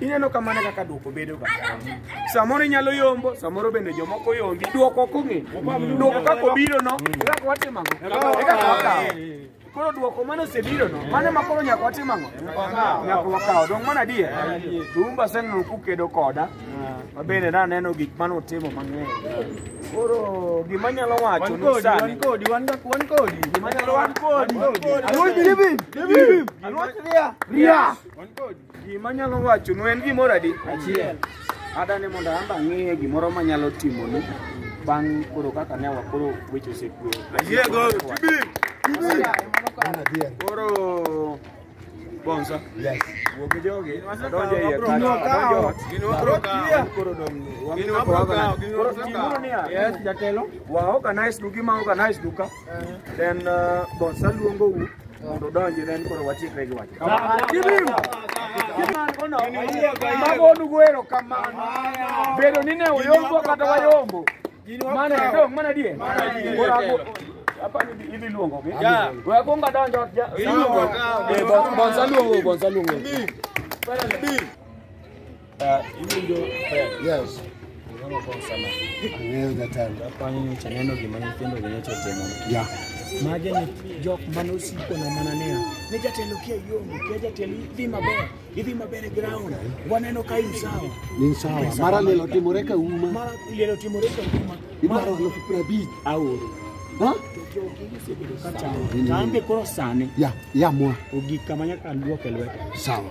ineno kamano kaka duoko bedo ga samoro inyalo yombo samoro bende jomoko yombi duoko kong'e duoko kaka obiro no e kaka watimo ang'o e kaka wakawo koro duoko mane osebiro no mane ma koro nyaka watim ang'o nyaka wakawo dong mana adier tumba aseneno kukedo koda ma bende naneno gik mane utimo mang'eny koro gima nyalo wacho nu sani gima nyalo wacho Ria. Gima nyalo wacho nu en gimoro adi? Achiel. Adani mondo amba ang'e gimoro manyalo timonu bang' koro kaka ne wakoro weche osekwe. Ayiego, tibi, tibi. Koro Bonza. Yes. Wuok gi jogi. Donjo iye ka. Donjo ot. Gino wabro kawo. Koro dong. Gino wabro kawo. Gino wabro kawo. Yes, jatelo. Wa organize dugi ma organize duka. then uh, boss aluongo u mondo udonji then koro watiekre gi wach magonu goero kamano bedo ni ne uyombo kata wayombo mane dong mana die Koro ago- apa ni idhi luongo gi we akwongo adonjo ja- Eh, bon- bonsa luongo bonsa luongo Yes. Ang'eyo jatelo. Japanyo nyocha neno gima nyithindo gi nyocha otimo. Yeah. Mage ni jok mane osiko na mana niya, ne jatelo kia yombo, kia jatelo idhi maber, idhi maber e ground, waneno ka in sawa. Ni sawa. Mara lilo timore ka uma. Mara liel otimore ka kuma. Idwaro alufu piero abich aoro. Ha? Ka chamo. Tambe koro sani, Ya, ya mwa. ogik kama nyaka luok e lwete. Sawa.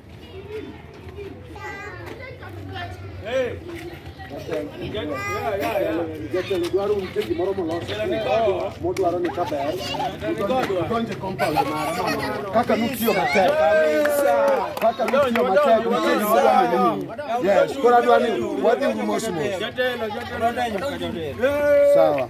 modwaro ni kaber donje compound mare kaka nutiyo matek kaka nutiyo matek nitie gimodwa nini yes koro adwa ni wadhi uru mos mos sawa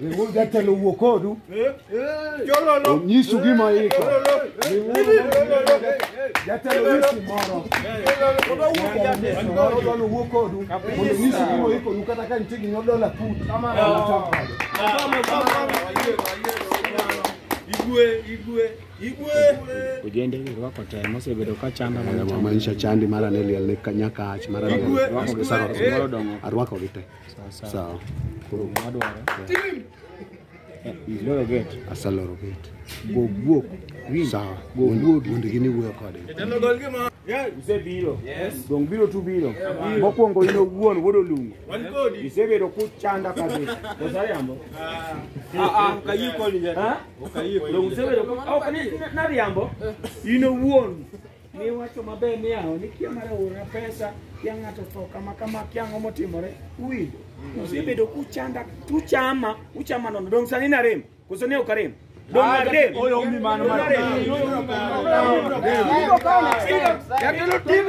Riwuru jatelo wuo kodu. Onyisu gima iko. Riwuru jatelo nyisi moro. Moro dwalo wuo kodu. Mondo onyisu gima iko nu kata ka nitie gima dola put. Ojende girwako te mosebedo ka chanda mana chanda. Maisha chandi mara ne liel ne nyakach mara ne Girwako gi te. arwako gi te. Sawa. Koro wadwaro. Iloro gate. Asaloro gate. Go guok. Sawa. Go guok. Mondo gini wuoyo kode. Isebiro. Dong biro tu biro. Mokwongo in owuon wuod Olungo. Isebedo kuchanda kabisa. Kosa riambo? Dong isebedo ok ni nariambo. In owuon Ne wacho maber ni aho ni kia mar aora pesa kia ng'ato tho kama kama kia ang'o motimore uwinjo usebedo kuchanda tuchama uchama nono dong' sani narem koso ne ok arem dong' narem Oyo umi mano Dong' narem. Jatelo TV.